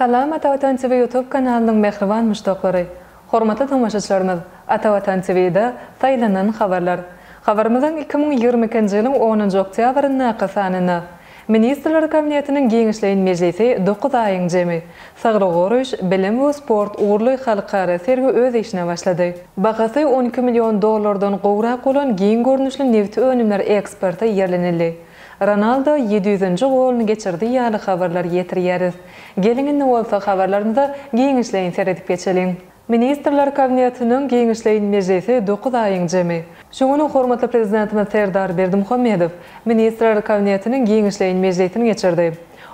Salam Atavatan TV YouTube kanalynyň mähriban muşdaklary! Hormatly tomaşaçlarymyz! Atavatan TV-de Saýlanan habarlar. Habarymyzyň iki müň ýigrimi ikinji ýylyň onunjy oktýabryndaky sanynda Ministrler Kabinetiniň giňişleýin mejlisi dokuz aýyň jemi, Saglygy goraýyş, bilim we sport ugurly halkara sergi öz işine başlady. Bahasy on iki million dollardan gowrak bolan giň görnüşli nebiti önümler eksporta ýerlenildi. Ronaldo ýedi ýüzünji goluny geçirdi ýaly habarlar ýetirýäris. Geliň indi bolsa habarlarymyza giňişleýin seredip geçeliň. Ministrler Kabinetiniň giňişleýin mejlisi dokuz aýyň jemi. Şu gün hormatly Prezidentimiz Serdar Berdimuhamedow Ministrler Kabinetiniň giňişleýin mejlisini geçirdi.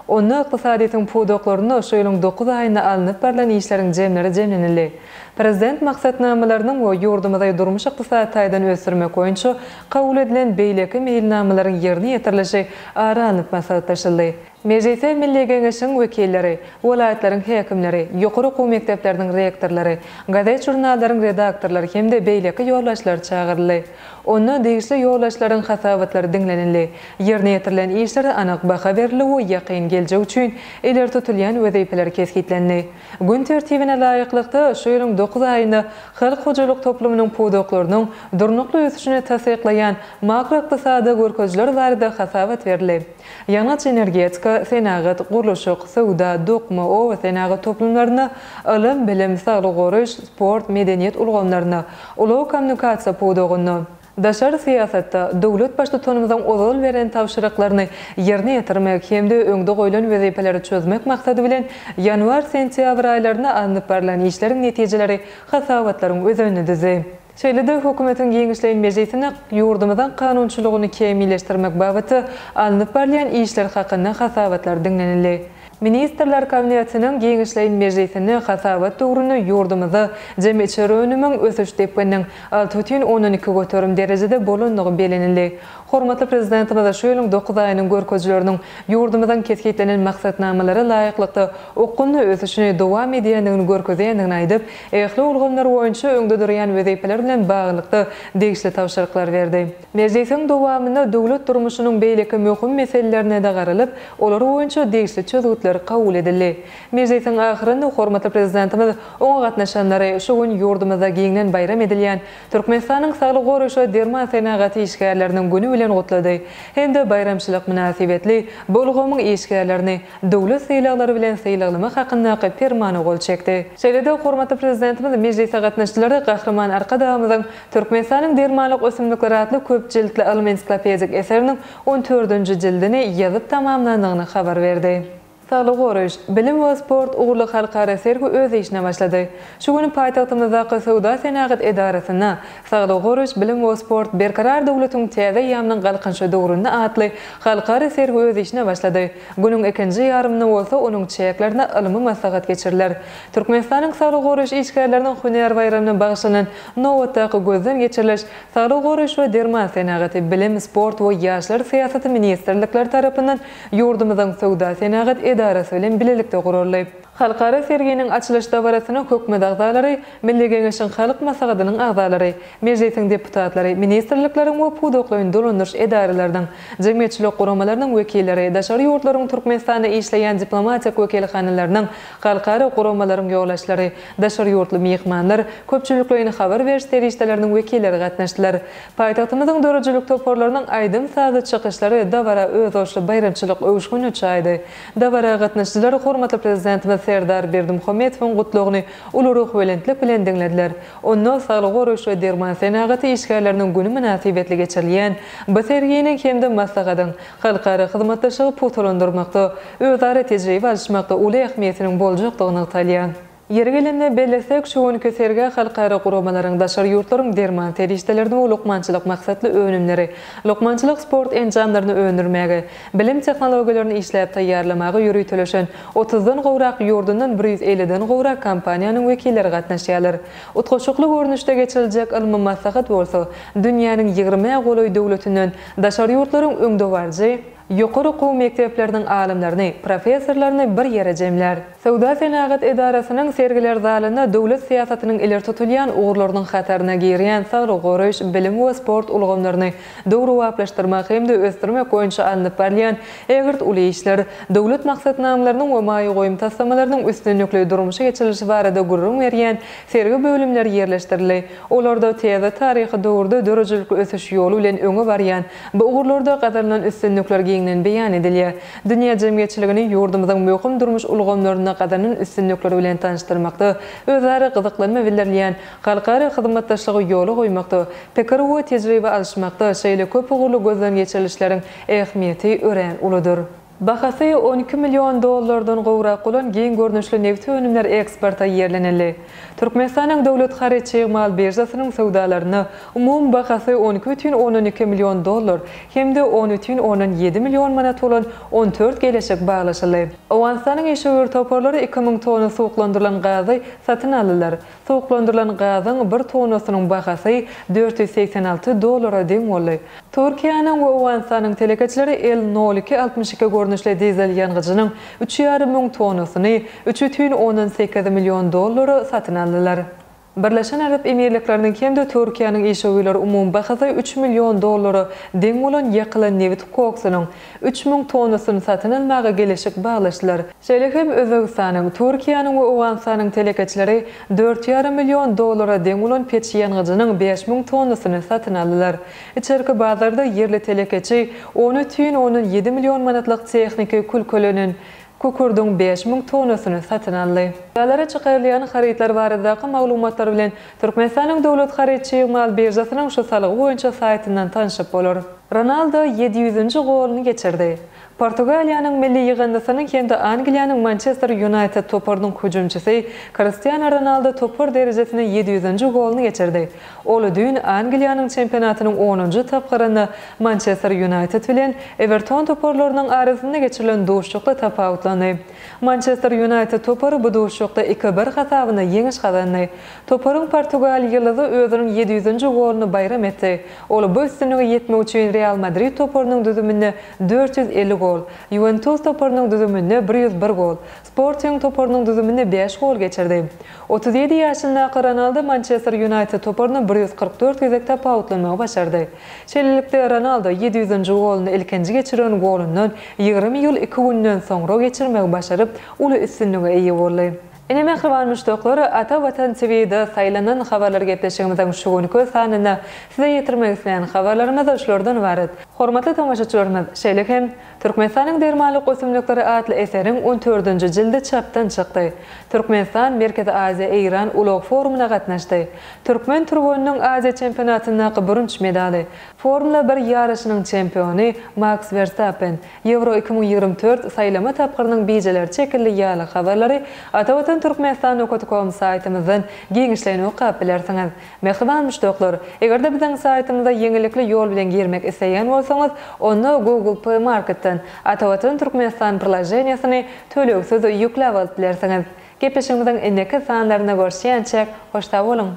Onda ykdysadyýetiň pudaklarynda şu ýylyň dokuz aýynda alnyp barlan işleriň jemleri jemlenildi. Prezident maksatnamalarynyň we ýurdumyzy durmuş-ykdysady taýdan ösdürmek boýunça kabul edilen beýleki meýilnamalaryň ýerine ýetirilişi ara alnyp maslahatlaşyldy. Mejlise Milli Geňeşiň wekilleri, welaýatlaryň häkimleri, ýokary okuw mekdepleriniň rektorlary, gazet-žurnallaryň redaktorlary hem-de beýleki ýolbaşçylar çagyryldy. Onda degişli ýolbaşçylaryň hasabatlary diňlenildi, ýerine ýetirilen işlere anyk baha berildi we ýakyn geljek üçin ileri tutulýan wezipeler kesgitlendi. Gün tertibine laýyklykda, şu ýylyň dokuz aýynda halk hojalyk toplumynyň pudaklarynyň durnukly ösüşini tassyklaýan makroykdysady görkezijiler barada hasabat berildi. ýangyç-energetika, senagat, gurluşyk, söwda, dokma, obasenagat toplumlaryna, ylym, bilim, saglygy goraýyş, sport, medeniýet ulgamlaryna, ulag-kommunikasiýa pudagyna, daşary syýasatda döwlet Baştutanymyzyň ozal beren tabşyryklaryny ýerine ýetirmek hem-de öňde goýlan wezipeleri çözmek maksady bilen, ýanwar-sentýabr aýlarynda alnyp barlan işleriň netijeleri hasabatlaryň özenini düzdi. Şeýle-de Hökümetiň giňişleýin mejlisine ýurdumyzyň kanunçylygyny kämilleşdirmek babatda alnyp barylýan işler hakynda hasabatlar diňlenildi. Ministrler Kabinetiniň giňişleýin mejlisinde hasabat döwründe ýurdumyzda jemi içeri önümiň ösüş depgininiň alty bütin ondan iki göterim derejede bolandygy bellenildi. Hormatly Prezidentimiz şu ýylyň dokuz aýynyň görkezileriniň ýurdumyzyň kesgitlenen maksatnamalara laýyklykda okgunly ösüşini dowam edýändigini görkezýändigini aýdyp, ähli ulgamlar boýunça öňde durýan wezipeler bilen baglylykda degişli tabşyryklary berdi. Mejlisiň dowamynda döwlet durmuşynyň beýleki möhüm meselelerine-de garalyp, olar boýunça degişli çözgütler kabul edildi. Mejlisiň ahyrynda hormatly Prezidentimiz oňa gatnaşanlary şu gün ýurdumyzda giňden baýram edilýän Türkmenistanyň saglygy goraýyş we derman senagaty işgärleriniň güni bilen gutlady hem-de baýramçylyk mynasybetli bu ulgamyň işgärlerini döwlet sylaglary bilen sylaglamak hakyndaky Permana gol çekdi. Şeýle-de hormatly Prezidentimiz mejlise gatnaşyjylara Gahryman Arkadagymyzyň Türkmenistanyň dermanlyk ösümlikleri atly köp jiltli ylmy-ensiklopedik eseriniň on dördünji jildini ýazyp tamamlandygyny habar berdi. Saglygy goraýyş, bilim we sport ugurly halkara sergi öz işine başlady. Şu gün paýtagtymyzdaky Söwda-senagat edarasynda Saglygy goraýyş, bilim we sport, Berkarar döwletiň täze eýýamynyň galkynyşy döwründe atly halkara sergi öz işine başlady. Günüň ikinji ýarymynda bolsa onuň çäklerinde ylmy maslahat geçiriler. Türkmenistanyň saglygy goraýyş işgärleriniň hünär baýramyna bagyşlanan nobatdaky gözden geçiriliş Saglygy goraýyş we derman senagaty, Bilim, sport we ýaşlar syýasaty ministrlikleri tarapyndan ýurdumyzyň Söwda-senagat edarasy bilen bilelikde guraldy. Halkara serginiň açylyş dabarasyna Hökümet agzalary, Milli Geňeşiň Halk Maslahatynyň agzalary, Mejlisiň deputatlary, ministrlikleriň we pudaklaýyn dolandyryş edaralarynyň, jemgyýetçilik guramalarynyň wekilleri, daşary ýurtlaryň Türkmenistanda işleýän diplomatik wekilhanalarynyň, halkara guramalaryň ýolbaşçylary, daşary ýurtly myhmanlar, köpçülikleýin habar beriş serişdeleriniň wekilleri gatnaşdylar. Paýtagtymyzyň döredijilik toparlarynyň aýdym-sazly çykyşlary dabara özboluşly baýramçylyk öwüşgini çaýdy. Dabara gatnaşyjylar hormatly Prezidentimiz Serdar Berdimuhamedowyň Gutlagyny uly ruhubelentlik bilen diňlediler. Onda saglygy goraýyş we derman senagaty işgärleriniň güni mynasybetli geçirilýän bu serginiň hem-de maslahatyň halkara hyzmatdaşlygy pugtalandyrmakda, özara tejribe alyşmakda uly ähmiýetiniň boljakdygy nygtalýar. Ýeri gelende bellesek, şu günki sergä halkara guramalaryň, daşary ýurtlaryň derman serişdelerini we lukmançylyk maksatly önümleri, lukmançylyk sport enjamlaryny öndürmäge, bilim tehnologiýalaryny işläp taýýarlamaga ýöriteleşen otuzdan gowrak ýurdundan bir ýüz elliden gowrak kompaniýanyň wekilleri gatnaşýarlar. Utgaşykly görnüşde geçiriljek ylmy maslahat bolsa dünýäniň ýigrimi-ä golaý döwletinden daşary ýurtlaryň öňdebaryjy Ýokary okuw mekdepleriniň alymlaryny, professorlaryny bir ýere jemlär. Söwda-senagat edarasynyň sergiler zalynda döwlet syýasatynyň ileri tutulýan ugurlarynyň hataryna girýän saglygy goraýyş, bilim we sport ulgamlaryny döwrebaplaşdyrmak hem-de ösdürmek boýunça alnyp barylýan ägirt uly işler, döwlet maksatnamalarynyň we maýa goýum taslamalarynyň üstünlikli durmuşa geçirilişi barada gürrüň berýän sergi bölümleri ýerleşdirildi. Olarda täze taryhy döwürde döredijilikli ösüş ýoly bilen öňe barýan Bu ugurlarda gazanylan üstünlikler giňden beýan edilýär. Dünýä jemgyýetçiligini ýurdumyzyň möhüm durmuş ulgamlarynda gazanan üstünlikleri bilen tanyşdyrmakda, özara gyzyklanma bildirilýän halkara hyzmatdaşlygy ýola goýmakda, pikir we tejribe alyşmakda şeýle köp ugurly gözden geçirilişleriň ähmiýeti örän uludyr. Bahasy on iki million dollardan gowrak bolan giň görnüşli nebiti önümler eksporta ýerlenildi. Türkmenistanyň Döwlet haryt-çig mal biržasynyň söwdalarynda umumy bahasy on iki bütin ondan iki million dollar hem-de on bütin ondan ýedi million manat bolan on dört geleşik baglaşyldy. Owganystanyň işewür toparlary iki müň tonna suwuklandyrylan gazy satyn aldylar. Suwuklandyrylan gazyň bir tonnasynyň bahasy dört ýüz segsen alty dollara deň boldy. Türkiýäniň we Owganystanyň telekeçileri El nol iki altmyş iki görnüşli dizel ýangyjynyň üç ýarym müň tonnasyny üç bütin ondan sekiz million dollara satyn aldylar. Birleşen Arap Emirlikleriniň hem-de Türkiýäniň işewürleri umumy bahasy üç million dollara deň bolan ýakylan nebit koksunyň üç müň tonnasyny satyn almaga geleşik baglaşdylar. Şeýle hem Özbegistanyň, Türkiýäniň we Owganystanyň telekeçileri dört ýarym million dollara deň bolan peç ýangyjynyň bäş müň tonnasyny satyn aldylar. Içerki bazarda ýerli telekeçi on ütün ondan ýedi million manatlyk tehniki külkelenen kükürdiň bäş müň tonnasyny satyn aldy. Bazara çykarylýan harytlar baradaky maglumatlar bilen Türkmenistanyň Döwlet haryt-çig mal biržasynyň şu salgy boýunça saýtyndan tanşyp bolar. Ronaldo ýedi ýüzünji goluny geçirdi. Portugaliýanyň milli ýygyndysynyň hem-de Angliýanyň Mançester Ýunaýted toparynyň hüjümçisi Kristiano Ronaldo topar derejesinde ýedi ýüzünji goluny geçirdi. Ol düýn Angliýanyň çempionatynyň onunjy tapgyrynda Mançester Ýunaýted bilen Ewerton toparlarynyň arasynda geçirilen duşuşykda tapawutlandy. Mançester Ýunaýted topary bu duşuşykda iki-bir hasabynda ýeňiş gazandy. Toparyň portugal ýyldyzy özüniň ýedi ýüzünji goluny baýram etdi. Ol bu üstünlige ýetmek üçin Real Madrid toparynyň düzüminde dört ýüz elli gol, Ýuwentus toparynyň düzüminde bir ýüz bir gol, Sporting toparynyň düzüminde bäş gol geçirdi. Otuz ýedi ýaşyndaky Ronaldo Mançester Ýunaýted toparyny bir ýüz kyrk dört gezek tapawutlanmagy başardy. Şeýlelikde, Ronaldo ýedi ýüzünji goluny ilkinji geçiren golundan ýigrimi ýyl iki günden soňra geçirmegi başaryp, uly üstünlige eýe boldy. Ine mähriban muşdaklar, Ata Watan TV da saýlanan habarlar gepleşigimiziň şu günki sanynda size ýetirmek isleýän habarlarymyz şulardan ybarat. Hormatly tomaşaçylarymyz, şeýle hem Türkmenistanyň dermanlyk ösümlikleri atly eseriň on dördünji jildi çapdan çykdy. Türkmenistan Merkezi Aziýa, Eýran ulag forumyna gatnaşdy. Türkmen türgeniniň Aziýa çempionatyndaky bürünç medaly, Formula bir ýaryşynyň çempiony Maks Werstappen, Ýewro iki müň ýigrimi dört saýlama tapgyrynyň bijeleri çekildi ýaly habarlary Atavatan Türkmenistan okt kom saýtymyzdan giňişleýin okap bilersiňiz. Mähriban müşdaklar, eger-de biziň saýtymyza ýeňillikli ýol bilen girmek isleýän bolsaňyz, onda Google Play Marketden Atavatan Türkmenistan priloženiýesini tölegsiz ýükläp alyp bilersiňiz. Gepleşigimiziň indiki sanlarynda görüşýänçäk, hoş sag boluň!